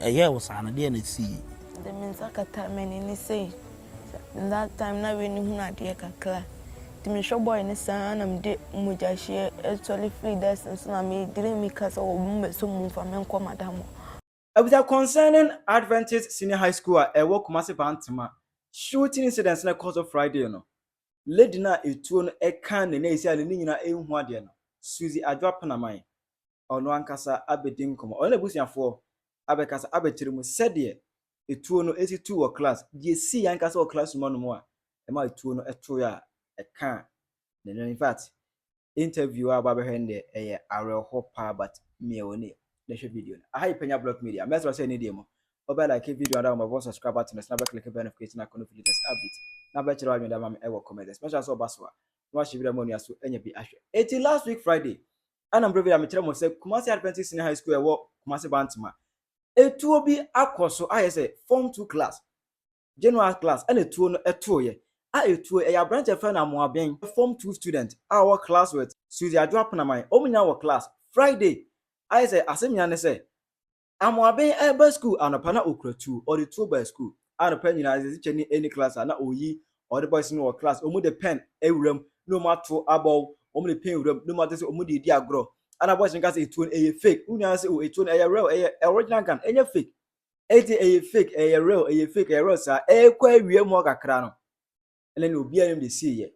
Ɛyɛɛ wo saa no, deɛn na ɛsiiɛ? Mede me nsa kataa m'ani no sei, in that time na w'ani hunu adeɛ kakra, nti mehwɛ boy no saa ara na mede mogyahyeɛ actually firi dɛs no so na me diri mika sɛ wɔ mo bɛsɔ mu mfa me nkɔ madam hɔ. Abisa concerning Adventist Senior High School a ɛwɔ Kumasi Bantama shooting incident no a ɛkɔɔ so Friday no, lady no a etuo no kan ne na esi a n'ani nyinaa ehu adeɛ no, Suzy Adwo Apenaman, ɔno ankasa abedi nkɔmmɔ. Ɔne n'abusuafoɔ abɛkasa abɛkyerɛ mu sɛdeɛ etuo no esi tuu wɔ class, deɛ esii ankasa wɔ classroom hɔnom a ɛmaa etuo no toeɛ a ɛkaa ne nan. In fact, interview a wabɛhwɛ no deɛ ɛyɛ awerɛhoɔ paa but mea wɔ nie na hwɛ video no aha yɛ panya block media mɛsrɛ sɛ ɛne deɛ mu wobɛ like video ada wɔn bɛbɔ subscribe button so na bɛ click bell notification icon no for latest update na bɛkyerɛ w'adwene dama me ɛwɔ comment section mɛsrɛ sɛ ɔba so a na wahyɛ wira mu onua so anya bi ahwɛ eti last week friday ɛna mbrɛ video a mekyerɛ mo sɛ Kumasi Adventist Senior High School ɛwɔ Kumasi Bantama etuo bi akɔ so ayɛ sɛ form two class General class ɛna tuo no tooeɛ a ɛtuo ɛyɛ abranteɛ fɛ no Amoaben form two student a ɔwɔ class with Suzy Adwo Apenaman wɔn nyinaa wɔ class Friday ayɛ sɛ asɛm nyinaa ne sɛ Amoaben ɛreba school anɔpa na ɔkura tuo ɔde tuo baa school anɔpa nyinaa sɛ teacher ni ɛni class a na ɔyi ɔde boys no wɔ class wɔn de pen awura mu na wɔn ato abɔw wɔn de pen wura mu na wɔn ate sɛ wɔn de redi agorɔ ana boys no ka sɛ ɛtuo no ɛyɛ fake wɔn nyinaa sɛ o ɛtuo no ɛyɛ real ɛyɛ original gun ɛnyɛ fake ɛti ɛyɛ fake ɛyɛ real ɛyɛ fake ɛyɛ real saa ɛkɔ awia mu kakra no ɛna na obi ayɛ de si yɛ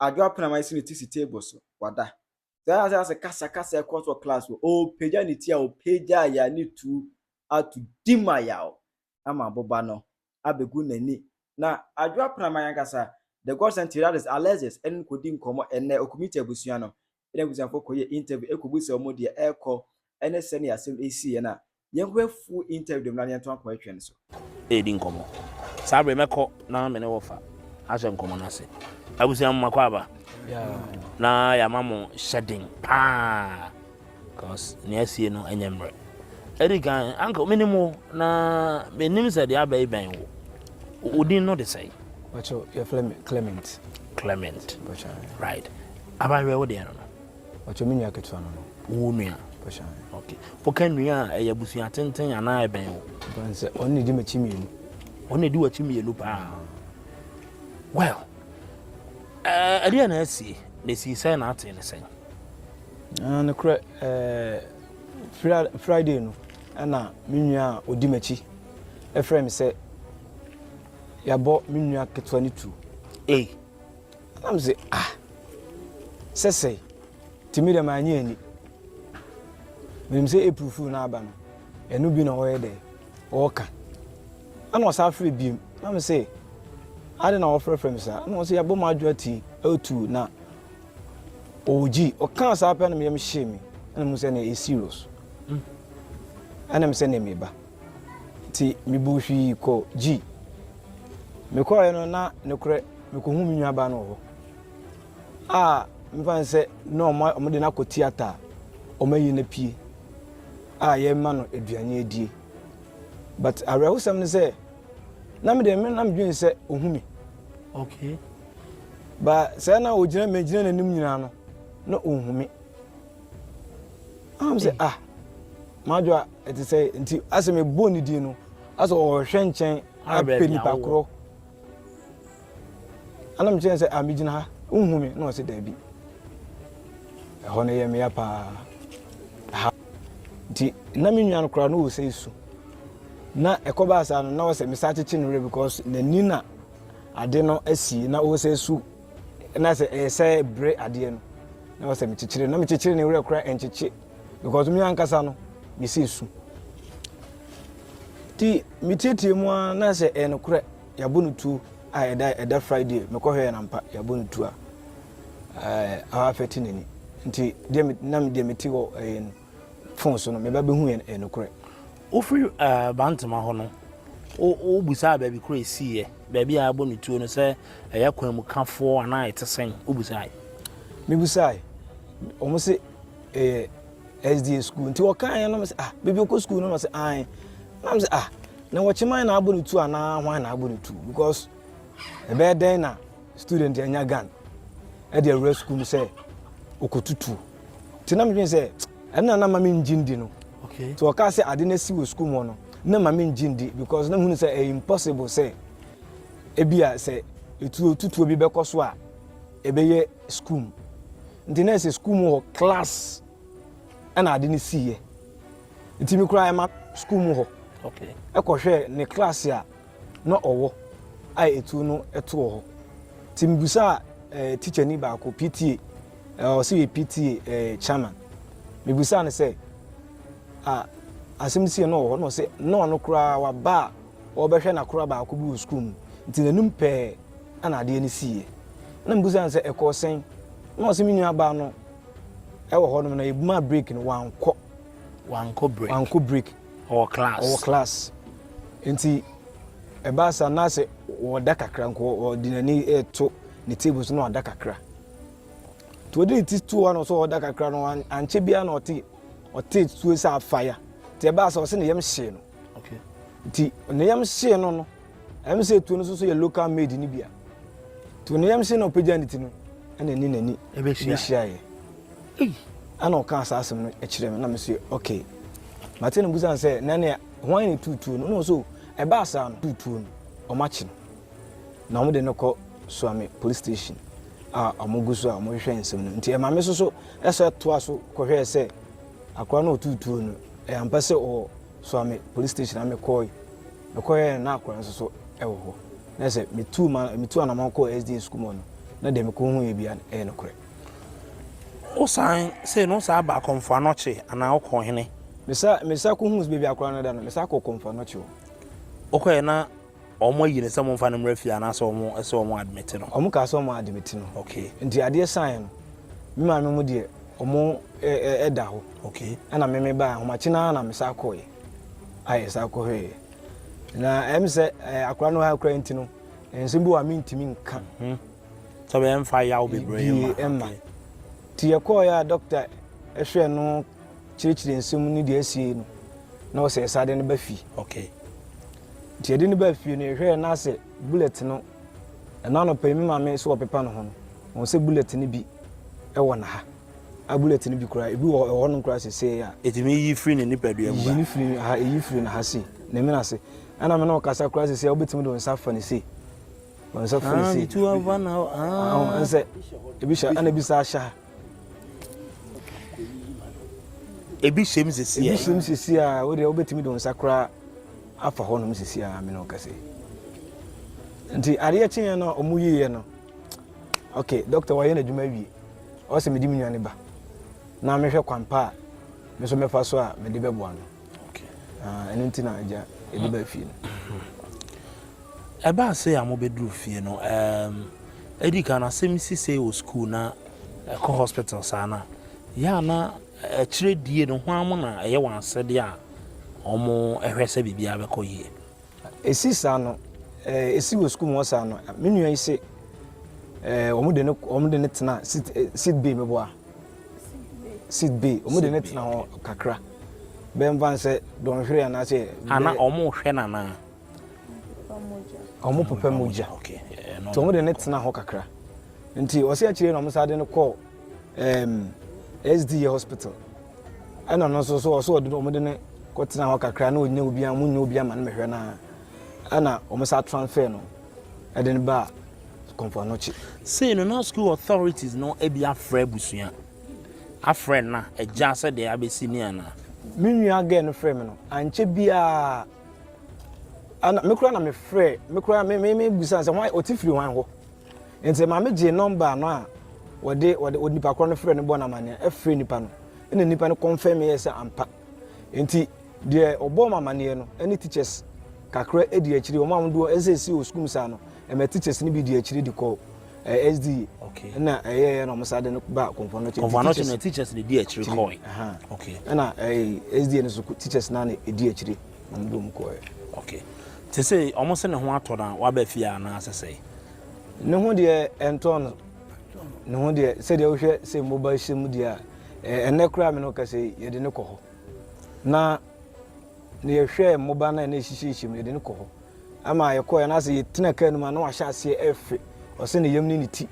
adwo apena ma ɛsi ne ti si table so wada saa ase ase kasa kasa ɛkɔ so class wɔ ɔpagya ne ti a ɔpagya ya ne tu ato di ma yaw ama aboba no abɛgu n'ani na adwo apena ma yankasa the god sent Alexis ɛne kɔdi nkɔmɔ ɛnɛ ɔkumiti abusua no na abusuafo kɔ yɛ interview kɔ bisa wɔn deɛ ɛrekɔ ɛne sɛdeɛ asɛm ɛresi yɛ no a, yɛn kɔ yɛ full interview dem na yɛn to akɔ ɛtwɛn no so. Ɛredi nkɔmɔ. Saa bere mɛkɔ na me ne wɔfa ahyɛ nkɔmɔ no ase. Abusua mo makɔ aba. Na yɛama mo hyɛden paa. Cause nea asie no ɛnyɛ mmerɛ. Ɛdi kan anka menim wo na menim sɛ deɛ abɛyi bɛn wo. Odin no de sɛn? Bàtchɔ yɛfrɛ me Clement. Clement. Right. Aba hwɛ wo deɛ no no. Ɔkyɛ me nua ketewa no no. Wo nua? Ɔhyɛn. Ok. Woka nua a, ɛyɛ abusua tenten anaa ɛbɛn wo? Ɛbɛn sɛ ɔno na ɛdi m'akyi mmienu. Ɔno na ɛdi w'akyi mmienu paa. Well, ɛdeɛ na asie, na ɛsii sɛn na atee ne sɛn? Ah, nokorɛ, Friday no, ɛna me nua a ɔdi m'akyi ɛfrɛ me sɛ yɛabɔ me nua ketewa no tuo. Ei! Na mese ah sɛsɛi nti me deɛ manyɛ ani menim sɛ April fool no aba no ɛno bi na ɔyɛ dɛ ɔka ɛna ɔsa afrɛ biem na me sɛ ade na wɔfrɛfrɛ me saa na ɔsɛ yɛabɔ m'adwo ati ɛtu na ɔgyi ɔkaa saa pɛ no meyɛm hyee me ɛna mu sɛ na ɛyɛ serious ɛna me sɛ na meba Nti mebuu hwii kɔɔ G. Mekɔeɛ no na nokorɛ mekɔhuu me nuabaa no wɔ hɔ a mefa no sɛ na wɔde no akɔ theatre a wɔayi no apue a yɛrema no aduane adie but awerɛhosɛm no sɛ na me deɛ na medwene sɛ ɔhu me okay ba sɛ na ɔgyina megyina n'anim nyinaa no na ɔnhu me am sɛ ah madwo a ɛte sɛ nti asɛ mebɔ ne din no asɛ ɔhwɛ nkyɛn apɛ nipa korɔ ana mekyerɛ sɛ ah megyina ha wohu me na ɔsɛ daabi ɛhɔ no yɛ mmea paa ha nti na me nua no koraa no wɔ sɛ su na ɛkɔbaa saa no na ɔsɛ mesa kyekye no werɛ because n'ani na ade no asi na ɔsɛ su na sɛ ɛyɛ sɛ bere adeɛ no na wɔ sɛ mekyekyere na mekyekyere ne werɛ kora ɛnkyekye because me ankasa no mesi su nti metietie mu a na sɛ ɛyɛ nokorɛ yɛabɔ no tuo a ɛda ɛda friday mekɔhwɛ yɛ nampa yɛabɔ no tuo a awa afɛte n'ani nti deɛ na deɛ meti hɔ ɛyɛ no phone so no, me ba behu yɛ nokorɛ. Wofiri Bantama hɔ no, wobusaa baabi korɔ a ɛsiiɛ, baabi a wɔbɔ no tuo no, sɛ ɛyɛ kwanmukafoɔ anaa ɛte sɛn? Wobusaae? Mebusaae. Wɔn se ɛyɛ SDA sukuu. Nti wɔkaeɛ no, mese ah, baabi ɔkɔ sukuu no? Na ɔse ae. Na mese ah, na wɔkyeman na abɔ no tuo anaa hwan na abɔ no tuo? Because ɛbɛyɛ dɛn na student anya gun ɛde awura sukuu mu sɛ ɔkɔtutuo? Nti na medwene sɛ ɛno na na ma mengye ndi no. Nti wɔkaa sɛ ade no asi wɔ sukuu mu hɔ no, na ma mengye ndi because na mehunu sɛ ɛyɛ impossible sɛ ebia sɛ etuo tutuo bi bɛkɔ so a ɛbɛyɛ sukuu mu. Nti na ɛsɛ sukuu mu hɔ class ɛna ade no siiɛ. Nti me koraa ɛma sukuu mu hɔ ɛkɔhwɛɛ ne class a na ɔwɔ a etuo no ɛto wɔ hɔ. Nti mebisaa eh, teacher ni baako, PTA, Eh, ɔse yɛ PTA eh, chairman. Mebisaa no sɛ, ah, asɛm no sii no wɔ hɔ? Na ɔse, na ɔno koraa waba a ɔrebɛhwɛ n'akora baako bi wɔ sukuu mu, nti n'anim pɛɛ na adeɛ no siiɛ. Na mebisaa no sɛ, ɛkɔɔ sɛn? Na ɔse, me nuabaa no wɔ hɔnom na yɛmaa break no, wankɔ. Wankɔ break? Wankɔ break. Ɔwɔ class? Ɔwɔ class. Nti ɛbaa saa na sɛ ɔda kakra nko, ɔde n'ani reto ne table so na wada kakra. Nti ɔde ne ti too hɔ na ɔsɛ ɔda kakra no ankyɛ biara na ɔte ɔte tuo sɛ afaya nti ɛbaa sɛ ɔsɛ ne yam hyee no nti ne yam hyee no no ɛm sɛ tuo no nso so yɛ local made no bia nti ne yam hyee na ɔpagya ne ti no ɛna ɛni n'ani ɛbɛhyiaeɛ ɛna ɔka saa asɛm no kyerɛ me na me so okay mate no busan sɛ na ne hwan ne tutuo no na ɔsɛ ɛbaa saa no tutuo no ɔmakye no na wɔde no kɔ Suame Police Station a wɔgu so a wɔhwehwɛ nsɛm no nti ɛma me nso so ɛsɛ toa so kɔhwɛɛ sɛ akora no ɔtuu tuo no ɛyɛ ampa sɛ ɔwɔ Suame Police Station a mekɔe mekɔhwɛɛ na akora nso so ɛwɔ hɔ na sɛ metu ma metu anamɔ kɔ SDA sukuu mu no na deɛ mekɔhu yɛ bia ɛyɛ nokorɛ wosan sɛ no saa ba akɔmfo anɔkye anaa wokɔ hene mesa mesa kɔhu baabi akora no da no mesa kɔ kɔmfo anɔkye hɔ wokɔɛ na Wɔn ayi no sɛ wɔn nfa no mmra fie anaasɛ wɔn ɛsɛ wɔn admit no. Wɔn kaa sɛ wɔn admit no. Okay. Nti adeɛ saeɛ no, me maame mu deɛ wɔn ɛ ɛ ɛda hɔ. Okay. Ɛna me me baa ahomakye no ara na me saa kɔɔɛ. Ayɛ saa kɔhwɛɛ. Na ɛm sɛ ɛ akora no ha kura nti no, nsɛm bi wɔ a me ntumi nka. Hmm. Sɛ bɛyɛ mfa yaw bebree ma. Bie ɛma. Ti yɛ kɔɔɛ a doctor ɛhwɛ no kyerɛkyerɛ nsɛm ne deɛ asie no, na ɔsɛ ɛsa de no ba fie. Okay. Nti yɛde no baa fie no, yɛhwɛɛ na asɛ bullet no, ɛno anɔpa yi me maame so ɔpepa ne ho no, ɔhu sɛ bullet no bi wɔ ne ha. A bullet no bi koraa, ebi wɔ hɔ nom koraa sesei a. Etumi yi firi ne nipadua mu ba. Yi ne firi ha, eyi firi ne ha sei, ne mene ase. Ɛna me ne wo kasa koraa sesei a, wobɛtumi de wo nsa afa ne sei. Wo nsa fa ne sei. Ah, me tu ava na, ah. Ɛnsɛ, ebi hyɛ, ɛna ebi saa hyɛ ha. Ebi hyem sisi a. Ebi hyem sisi a wo deɛ wobɛtumi de wo nsa koraa afa hɔnom sisi a mene wo kɛse. Nti adeɛ kyeeɛ no a ɔmo yiiɛ no okay doctor wayɛ n'adwuma wie ɔsɛ mede me nwa ne ba na mehwɛ kwampa a me nso mɛfa so a mede bɛboa no. Ɛno nti na agya ɛde ba fie no. Ɛbaa sɛ a mobɛduru fie no, ɛdi kan asɛm si sɛ wɔ sukuu na ɛkɔ hospital saa no a, yɛ a na akyire die no hwan mo na ɛyɛ wɔn asɛdeɛ a wɔhwɛ sɛ biribiara bɛkɔ yie? Ɛsi saa no, ɛsi wɔ sukuu mu hɔ saa no, me nua yi se wɔde no tena seat bay bɛboa Seed bay, wɔn de no tena hɔ kakra, bɛyɛ mfa nsɛ dɔnhwere anaasɛ. Ana wɔn hwɛ no anaa? Wɔn popa mogya, nti wɔn de no tena hɔ kakra, nti ɔsi akyire yi na wɔn san de no kɔ ɛɛm SDA hospital, ɛna ɔno nso so ɔso ɔde wɔn de no kɔ tena hɔ kakra na ɔnyɛ obi a wɔn nyɛ obi ama no mehwɛ no ara, ɛna wɔn san transfer no. Ɛde no baa Kompoanoche. Sei no na school authorities no abi afrɛ abusua, afrɛ nna, agya sɛ deɛ abɛsi ni anaa. Me nua girl no frɛɛ me no, ankyɛ biara ana me koraa na me frɛ, me koraa me me me busa sɛ hwan ɔte firi hwan hɔ. Nti maame gyee nɔmba no a wɔde wɔde onipa korɔ no frɛ no bɔ no amanneɛ, ɛfrɛ nipa no, ɛna nipa no confirm yɛ sɛ ampa. Nti Deɛ ɔbɔɔ me amaneɛ no ɛne teachers kakra ɛdi akyire wɔn a wɔn doɔ ɛsɛ ɛsi wɔ sukuu mu saa no ɛma teachers no bi di akyire de kɔ ɛɛ SDA okay ɛna ɛyɛ ɛyɛ na wɔn sa de no ba kɔnfɔn no kɔnfɔn no na teachers no di akyire kɔɛ okay ɛna ɛɛ SDA no so teachers na na ɛdi akyire na wɔn de wɔn kɔɛ okay te sɛ wɔn sɛ ne ho atɔ na waba fie a na asɛsɛ ne ho deɛ ɛntɔn no ne ho deɛ sɛdeɛ wohwɛ sɛ mmoba hyɛ mu deɛ a ɛnɛ koraa me no kɛsɛ yɛde ne kɔ hɔ Na na yɛhwɛ mmoba no a na ɛhyehyɛhyɛ mu yɛde no kɔ hɔ ama yɛkɔɛ no asɛ yɛtena kaa no mu a na wahyɛ aseɛ ɛfe ɔsɛ ne yam ne ne ti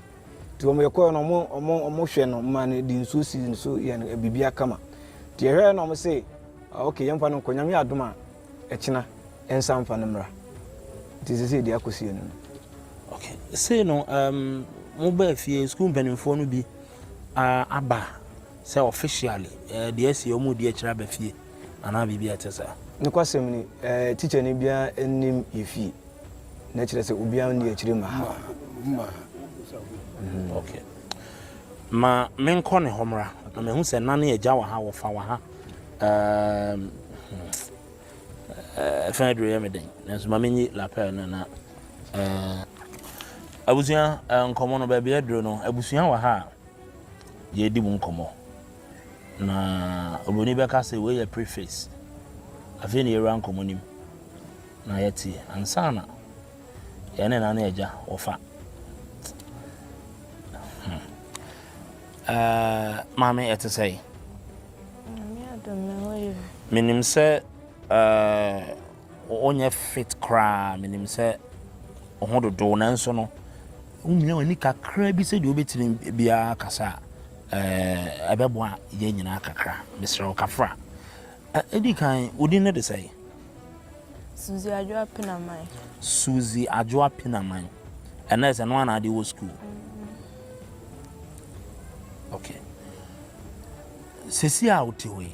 nti wɔn yɛkɔɛ no ɔmo ɔmo ɔmo hwɛ no ma no de nsuo si no so yɛ no biribi akama nti yɛhwɛ na ɔmo se ah, ok yɛmfa no nkɔ nyame adom a ɛkyena ɛnsa mfa no mmra nti sɛ sɛ yɛde akɔsi yɛn no no okay sei no um, mobaa fie sukuu mpanimfoɔ no bi uh, aba Sɛ officially eh, deɛ ɛsi wɔn redi akyire aba fie anaa biribi a ɛte saa. Nokwasɛm ni eh, tikyani biara nnim yɛn fie, na ɛkyerɛ sɛ obiara nni akyire mma ha. Mma ha. Mhm. Okay. Ma menkɔ ne hɔ mmra, na mahu sɛ nna ne agya wɔ ha, wɔfa wɔ ha. Um, eh, ɛfɛn aduro yɛ me den, nanso ma menyi lapel no na eh, abusua eh, nkɔmmɔ no baabi aduro no, abusua wɔ ha a. yɛredi mu nkɔmmɔ. Na oburoni bɛka sɛ, Wei yɛ preface. Afei na yɛawura nkɔmmɔ no mu, na yɛte ansa na yɛne ɛna ne agya wɔfa. Hmm. Maame, ɛte sɛn? Menim sɛ Wonyɛ fit koraa. Minim sɛ wo ho dodow, nanso no, wumia w'ani kakra bi sɛnea wubetumi biara kasa a, ɛɛ, ɛbɛboa yɛn nyinaa kakra. Mesrɛ wo, kafra. Edi kan, wo din ne de sɛn? Suzy Adwoa Pinaman. Suzy Adwoa Pinaman. Ɛnna ɛsɛ no ana ade wɔ sukuu? Okay. Sisi a wote hɔ yi,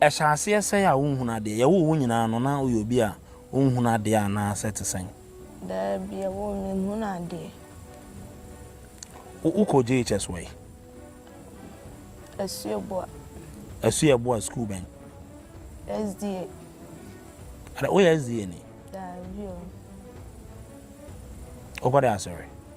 Ɛhyɛ aseɛ sɛn a wonhunu adeɛ? Yɛwoo wo nyinaa no, na woyɛ obi a wonhunu adeɛ anaa sɛ te sɛn? Daabi, yɛwoo me no, menhunu adeɛ. Wo, wokɔ JHS wɔ he? Asuabua. Asuabua sukuu bɛn? SDA. Ada, woyɛ SDA ni? Daabi o. Wokɔ dɛ asɔre?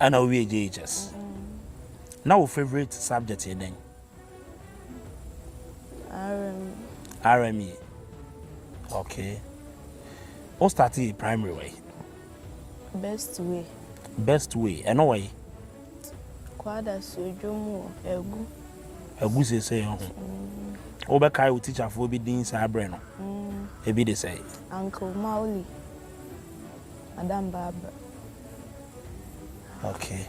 Ɛna wo wie JHS. Na wo favorite subject yɛ dɛn? RME. RME. Okay. Wo start yɛ primary way? Best way. Best way. Ɛno way? Kwada sodwo mu egu. Egu sese ho. Mm. Wo bɛ kai wo teacher fo bi din saa brɛ no. Mm. Ebi de sɛ. Uncle Mauli. Madam Barbara. Okay.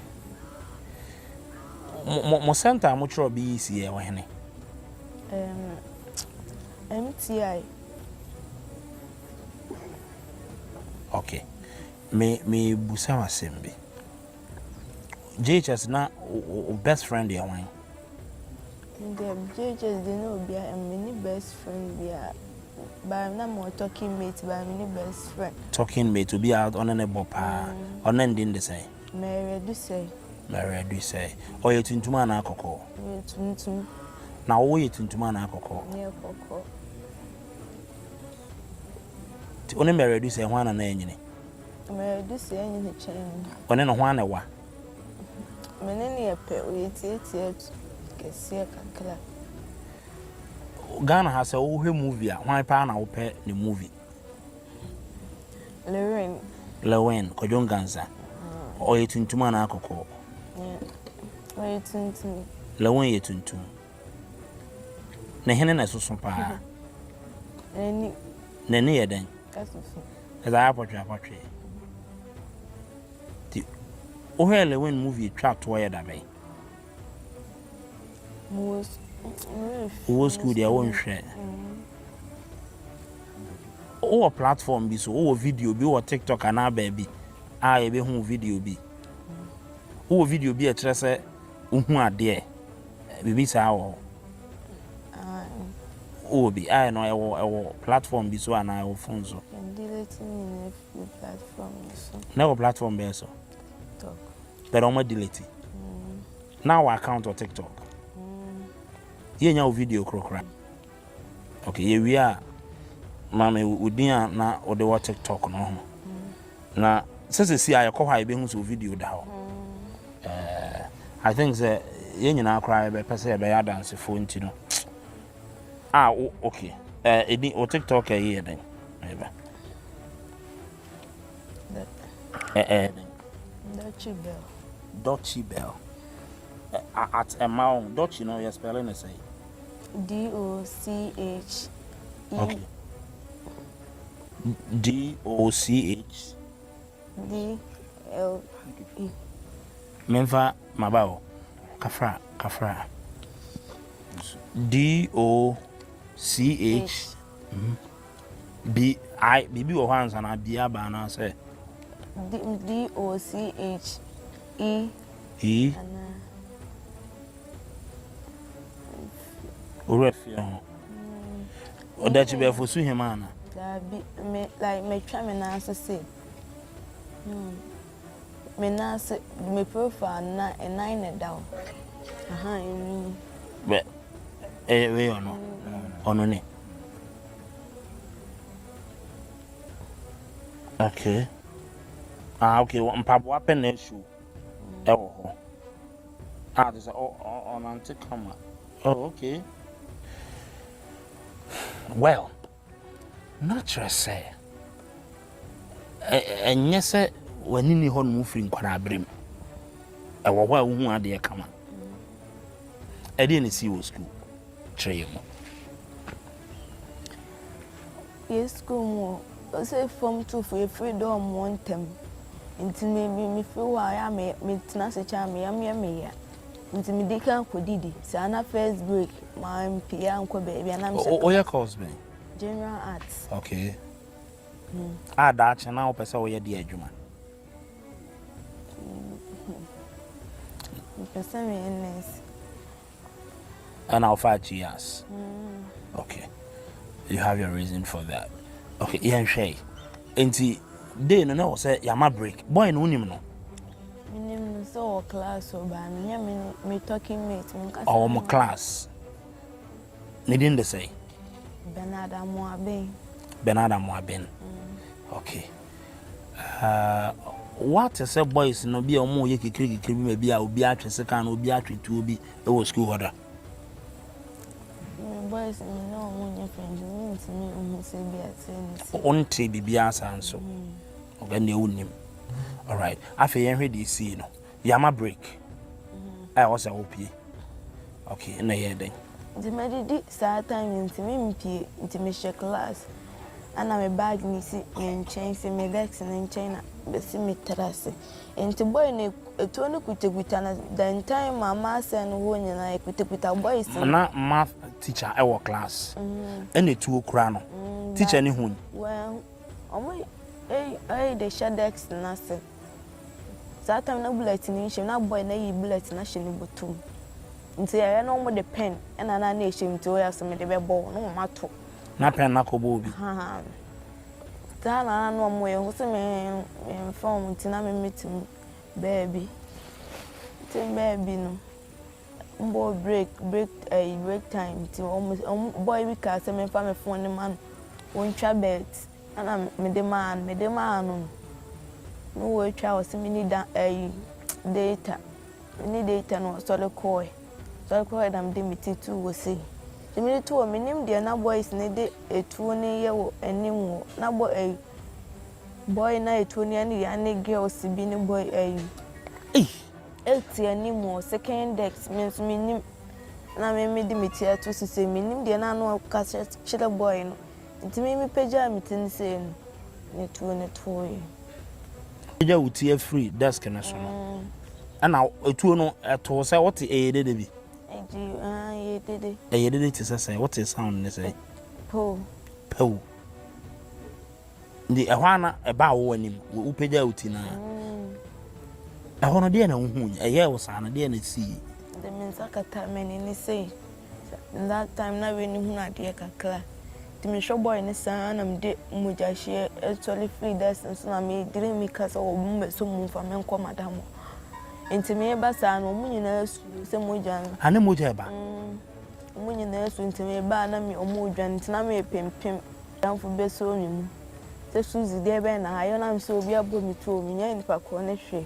Mo, mo, mo center a motwerɛ BEC yɛ wɔ hene? Um, MTI. Okay. Me, me busa wasɛm bi. JHS na wo best friend yɛ hwan? Deɛ JHS deɛ na obia mini best friend bia baa na mo talking mate baa mini best friend. Talking mate obi a ɔne ne bɔ paa mm. ɔne ndi ndi sɛ. Mɛrɛ du sɛ. Mɛrɛ du sɛ ɔyɛ tuntum anaa kɔkɔɔ. Yɛ tuntum. Na wo yɛ tuntum anaa kɔkɔɔ. Yɛ kɔkɔɔ. Ti ɔne mɛrɛ du sɛ ho ana na ɛnyini. Ɔne no hwan na ɛwa? Ghana ha sɛ wohwɛ movie a hwan paa na wopɛ ne movie? Lewin Kwadwo Nkansah ɔyɛ tuntum anaa kɔkɔɔ? Lewin yɛ tuntum ne hene na ɛsoso paa? N'ani yɛ dɛn? Ɛdze ayɛ apɔtwe apɔtwe. Ntsi wo hwɛɛ Lewin movie twa toɔ yɛ dabɛn? Wo wɔ school deɛ wo nhwɛ. Wo wɔ platform bi so, wo wɔ video bi wɔ TikTok anaa baabi a yɛbɛhu video bi. Wo wɔ video bi a ɛkyerɛ sɛ Wohu adeɛ? Biribi saa wɔ hɔ? Wowɔ bi? Ayɛ no ɛwɔ ɛwɔ platform bi so anaa ɛwɔ phone so? Yɛdelete ne nyinaa firi platform yi so. Na ɛwɔ platform bɛɛ so? TikTok. Bɛrɛ wɔn adelete? Mm. Na wɔ account wɔ TikTok? Mm. Yɛnya wo video korokora? Okay, yɛwie a, ma me wo din a na wode wɔ TikTok no ho. Na sɛ sɛ si a yɛkɔ hɔ a yɛbɛhu sɛ wo video da hɔ. Eh, I think sɛ yɛn nyinaa koraa yɛbɛpɛ sɛ yɛbɛyɛ adansefoɔ nti no. Ah, wo, okay. Eh, ɛdi, wo TikTok ɛyi yɛ dɛn? Ɛbɛ. Eh, eh. Dutchy Bell. Dutchy Bell. Eh, at ɛma wo, Dutchy no yɛ spelling ne sɛ. D-o-c-h-e. D-o-c-h. D-l-e. Menfa maba o. Kafra, kafra. D-o-c-h. Bi I, biribi wɔ hɔ ansa na bi aba anaasɛ? D, D, O, C, H, E. E. Anaa. Owura fie ho. Mm. Ɔda akyi bɛfo so hema ana? Daabi, me, like, metwa me nan so se. Hmm. Me nan ase, me profile na nan na ɛda hɔ. Aha, ɛnwi. Bɛ, ɛyɛ wei ɔno, ɔno ne. Okay. Ah, okay, mpaboa pɛ na ɛsu ɛwɔ hɔ. Ah, te sɛ ɔnante kama. Oh, okay. Well. Na kyerɛ sɛ, ɛnyɛ sɛ w'ani nni hɔnom firi nkwadaa mu. Ɛwɔ hɔ a wohu adeɛ kama. Ɛdeɛ na ɛsii wɔ sukuu? Kyerɛ yɛn mu. Yɛ sukuu mu o, ɔsɛ fam tufo yɛfiri dɛ ɔmo ntɛm. Nti me mefiri hɔ a, ɛyɛ a metena ase kyɛ a meyɛ meyɛ meyɛ. Nti mede ka kɔdidi saa na first break mampie ankɔ baabi a na mehyɛ class. Woyɛ course bɛn? General arts. Okay. Hmm. A daakye na wopɛ sɛ woyɛ de adwuma? Mepɛ sɛ meyɛ nurse. Ɛna wofa two years? Hmm. Okay. You have your reason for that. Okay, yɛnhwɛ yi. Enti day no na ɛwɔ sɛ yɛama break. Boy no wonim no? Menim no sɛ ɔwɔ class o but menyɛ me ne me talking mate menkasa ne ho. Ɔwɔ mo class. Ne din de sɛn? Bernard Amoaben. Bernard Amoaben. Okay. Uh, woate sɛ boys no bi a wɔyɛ kikirikikiri bi ma bi a obi atwe sekan na obi atwe tuo bi wɔ sukuu hɔ da? Wonte biribiara saa nso. Ɔbɛn deɛ wonnim. Alright. Afei yɛnhwɛ deɛ esii no. Yama break. A ɛwɔ sɛ wopie. Okay, ɛna yɛ dɛn? Nti madidi saa time no nti mempie. Nti mehyɛ class. Ana me bag no si me nkyɛn, si me desk no nkyɛn na mesi me tiri ase. Enti bɔe no atuo no kutakuta no dantan ma maths no hɔ nyinaa ɛkutakuta bɔe si. Na math teacher wɔ class ɛna atuo kura no teacher no hui. Wɔn ɛyi de hyɛ desk no ase saa time na bullet no nhyɛ mu na bɔe no ayi bullet no ahyɛ ne bɔtɔ mu nti ɛyɛ na wɔn de pen ɛna na na ɛhyɛ mu nti wɔyɛ sɛ mede bɛbɔ na wɔn ato. Na pen no akɔbɔ obi. Ghana no ara na wɔn yɛ hɔ sɛ me nfa wɔn nti na me metem baabi tem baabi no mbɔ break break ɛyi eh, break time nti wɔn wɔn boy bi kaa sɛ me nfa me fon ne ma no wɔn twa bɛt ɛna me de maa no me de maa no no wɔatwa wɔ sɛ me ni da ɛyi data me ni data na wɔsɔre kɔɛ. Sɔre kɔ hɔ na mede me ti tu wo sei. Gye mede to hɔ menim deɛ na boys ne de etuo ne yɛ wɔ anim wɔ na bɔ ayi boy na etuo ne ɛne yɛ ne girls bi ne boy ayi. Eti anim wɔ second dex me nso menim na me mede me ti ato sisi menim deɛ na ano ɔka kyerɛ boy no. Enti me mepagyaa me ti no sɛɛ mu, na tuo no toeɛ. Wopagya wo ti afiri desk no so no, ɛna tuo no too sɛ wote ɛyɛ dede bi. Enti ah, ɛyɛ dede. Ɛyɛ dede te sɛ sɛ wote sound ne sɛ. Pow. Pow. Nti ɛhɔ a na ɛbaa wo anim, wopagyaa wo ti no a. Ɛhɔ no deɛ na wohu, ɛyɛɛ wo saa no deɛ na ɛsii. De me nsa kataa m'ani ne sɛ. That time na w'ani hunu adeɛ kakra Nti me hwɛ boy no saa na me de mogya hyeɛ Ɛsɔre firi dust no so na me dream me ka sɛ Ɔmo bɛ so mu nfa me nkɔ madam hɔ Nti me ba saa no ɔmo nyinaa suro sɛ mogya no A ne mogya ɛba? Mm, ɔmo nyinaa suro nti me ba a na me ɔmo dwane nti na me pem pem Madamfo bɛ so me mu sɛ Suzy deɛ bɛn na ayɛ na me sɛ obi abɔ me tuo me nya nipa korɔ ne hwee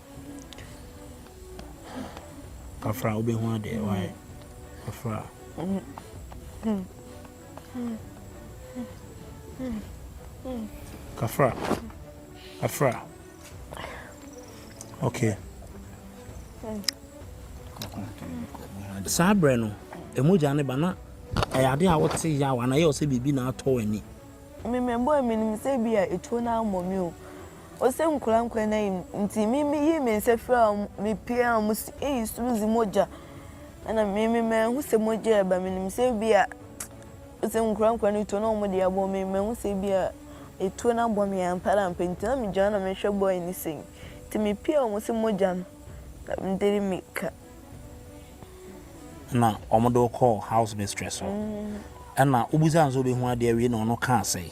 Afra wobɛhu adeɛ wae Afra. Kafra Afra ok saa berɛ no ɛmu gya ne ba na ɛyɛ adeɛ a wote yaw anaa ɛyɛ wo sɛ biribi na atɔ w'ani memɛmbɔ a menim sɛ bi a ɛtuo no ammɔ me o Ose nkura nkwa na yi mu nti me me yii me nsa firi a me pia a wɔsi eyi soro dzi mogya ɛna me me mɛhu sɛ mogya ɛba me nim sɛ ebi a ose nkura nkwa no tuo na wɔn de abɔ me mɛhu sɛ ebi a etuo no abɔ me ampa ara ampa nti na me gyina hɔ na me hwɛ boy no sɛ yi nti me pia a wɔsi mogya no na me de me ka. Ɛna wɔn de wo kɔɔ house mistress hɔ ɛna wo bisa no sɛ obehu adeɛ awie na ɔno kaa sɛɛ.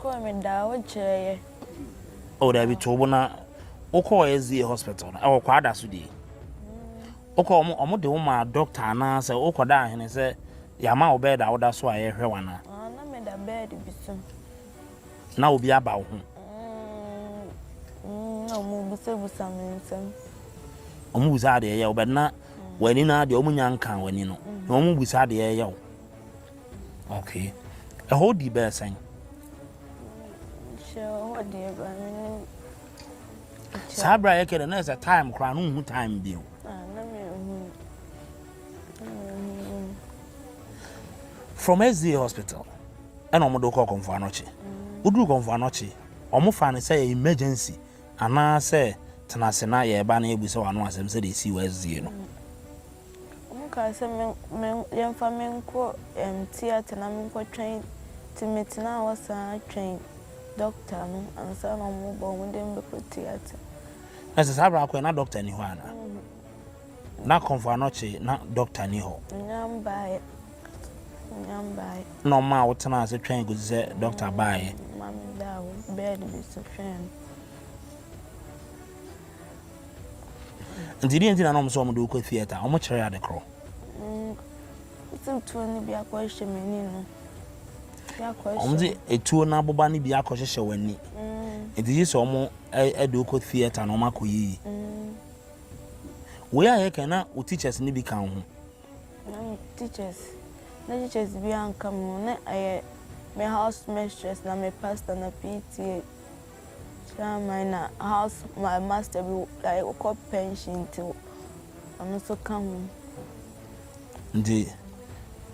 Kɔɔ me daa wo kyerɛ yɛ. Oh dabi to bo na wo kɔɔ SDA hospital no ɛwɔ kwada so die. Wo kɔɔ ɔmo ɔmo de wo ma doctor ana sɛ wo kɔ da ahene sɛ yama wo bed a wo da so a yɛ hwɛ wana. Ah na me da bed bi so. Na obi aba wo ho. Mm, na ɔmo bisa bisa me nsɛm. Ɔmo bisa adeɛ yɛ wo bed na wani na adeɛ ɔmo nya nka wani no. Na ɔmo bisa adeɛ yɛ wo. Okay. Ɛhɔ di bɛyɛ sɛn? Hyɛ hɔ deɛ ba me ne saa berɛ a yɛkɛ dɛ na ɛsɛ time koraa no nhu time bio ah, from sda hospital ɛna ɔmode wokɔ kɔmfo anɔkye woduru kɔmfo anɔkye ɔmo fa no sɛ emergency anaasɛ tena ase na yɛreba no yɛbu sɛ wano asɛm sɛdeɛ ɛsii wɔ sda no Wɔkaa sɛ me me yɛmfa me nkɔ ɛɛm theatre na me nkɔ twɛn nti me tenaa hɔ saa twɛn doctor no ansa na wɔn reba wɔn de me bɛkɔ theatre. Na sɛ saa berɛ akɔɛ na doctor ni hɔ ana? Mm. Na kɔnfɔ anɔkye na doctor ni hɔ. Nya mbaeɛ. Nya mbaeɛ. Na wɔn a wɔtenaa ase twɛn kɔsi sɛ doctor baeɛ. Mm, ma me da hɔ bed bi so twɛn no. Nti deɛ nti na na wɔn sɛ wɔn de wokɔ theatre, wɔn kyerɛ ade korɔ. Mm, sɛ tuo no bi akɔ hyɛ m'ani no. Wɔn de etuo no aboba no bi akɔ hyehyɛ wɔn ani. Mm. Nti yi sɛ wɔn ɛde wokɔ theatre na wɔn akɔ yiyi. Mm. Wei a yɛ kan na wo teachers no bi ka ho. Na teachers, na teachers bi anka mo na ɛyɛ me house mistress na me pastor na PTA. Saa mine na house my master bi like ɔkɔ pension nti ɔno nso ka ho. Nti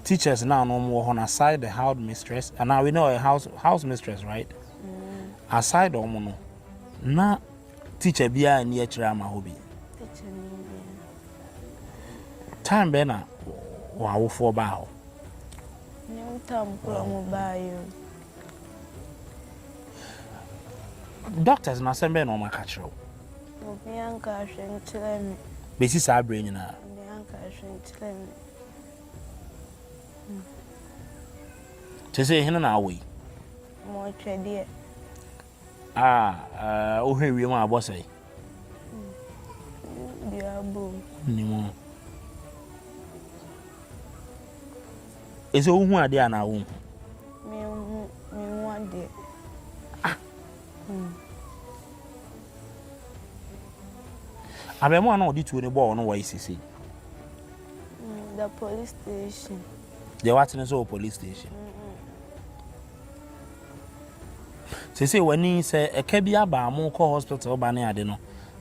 teachers na ano wɔn wɔ hɔ na aside the house mistress and now we know a house house mistress right mm. aside wɔn no na teacher bi a ni akyerɛ ama hɔ bi. teacher ni bi. time bɛn na wɔn awofoɔ baa hɔ. ne mu tam kura mo baa yɛ o. Doctors no asɛm bɛyɛ na wɔaka kyerɛ wo? Obi anka ahwɛ nkyerɛ me. Bɛsi saa berɛ nyinaa? Obi anka ahwɛ nkyerɛ me. Kyɛ sɛ hene na awɔ yi? Mɔtwɛdeɛ. A wohwɛ wiem a abɔ sɛe. Dua abom. Nni mu. Ɛsɛ wohu adeɛ anaa wohu? Mehu mehu adeɛ. Ah. Hmm. Abɛɛmoa na ɔde tuo ne bɔɔl no wɔ yi sisi. Hmm, the police station. Deɛ watene sɛ wɔ police station. Mm -mm. Seesei w'ani sɛ ɛka bi aba a mokɔ hospital ba ne ade no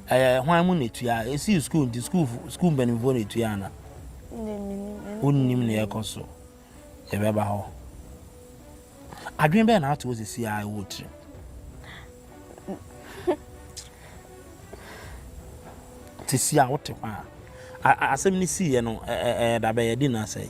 ɛyɛ hwan mu na etua? Esii sukuu nti sukuufo sukuu mpanimfoɔ na etua ana? Wonnim nea ɛkɔ so. Yɛbɛba hɔ. Adwene bɛn na ato wo sisi a ɛwɔ tirim? Sisi a wote hɔ a asɛm no siiɛ no ɛda bɛyɛ di na sɛe.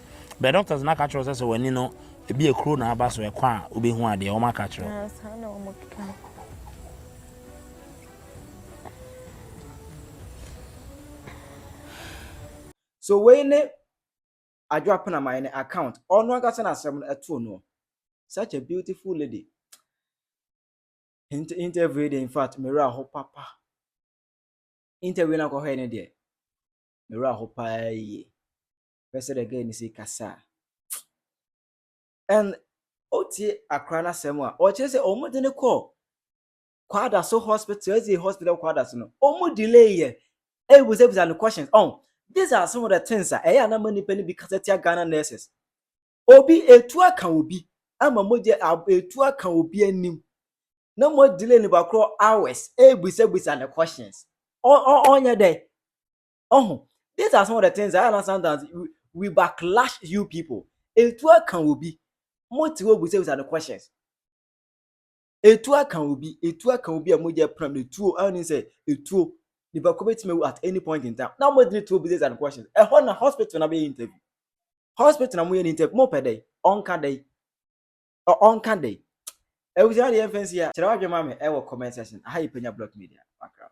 Bɛ doctors no aka akyerɛ wo sɛ sɛ w'ani no ebi a kuro na aba so ɛkɔ a wobɛhu adeɛ wɔn aka akyerɛ wo. Saa na wɔn keka. So wei ne Adwo Apenaman ne account ɔno ankasa na asɛm no ɛtoo noɔ such a beautiful lady nti interview de in fact mewura ho papa interview no akɔhɔɛ ne deɛ mewura ho paa yie. Hwɛ sɛdeɛ girl no si kasa. And wotie akora no asɛm a, ɔkyerɛ sɛ wɔde no kɔɔ Kwada so hospital, ɛsɛ hospital Kwada so no, wɔn delay yɛ, ɛbisabisa no questions. Oh, these are some of the things a ɛyɛ anam nnipa no bi kasa tia Ghana nurses. Obi etu aka obi ama mogya etu aka obi anim na mo delay nipa korɔ hours ɛbisabisa no questions. Ɔnyɛ dɛ. Oh, these are some of the things I know sometimes we, we backlash you people. Etu aka obi. Mo ti wo busa busa the questions. Etu aka obi, etu aka obi a mo je pram the tuo. I mean say etuo. Nipa ko betime at any point in time. Now mo dini tuo busa busa the questions. E ho na hospital na be interview. Hospital na mo ye interview. Mo pe dey, on ka dey. On ka dey. Ebusa na the fancy ya. Chira wa jema me e wo comment section. Aha ye penya block media. Background.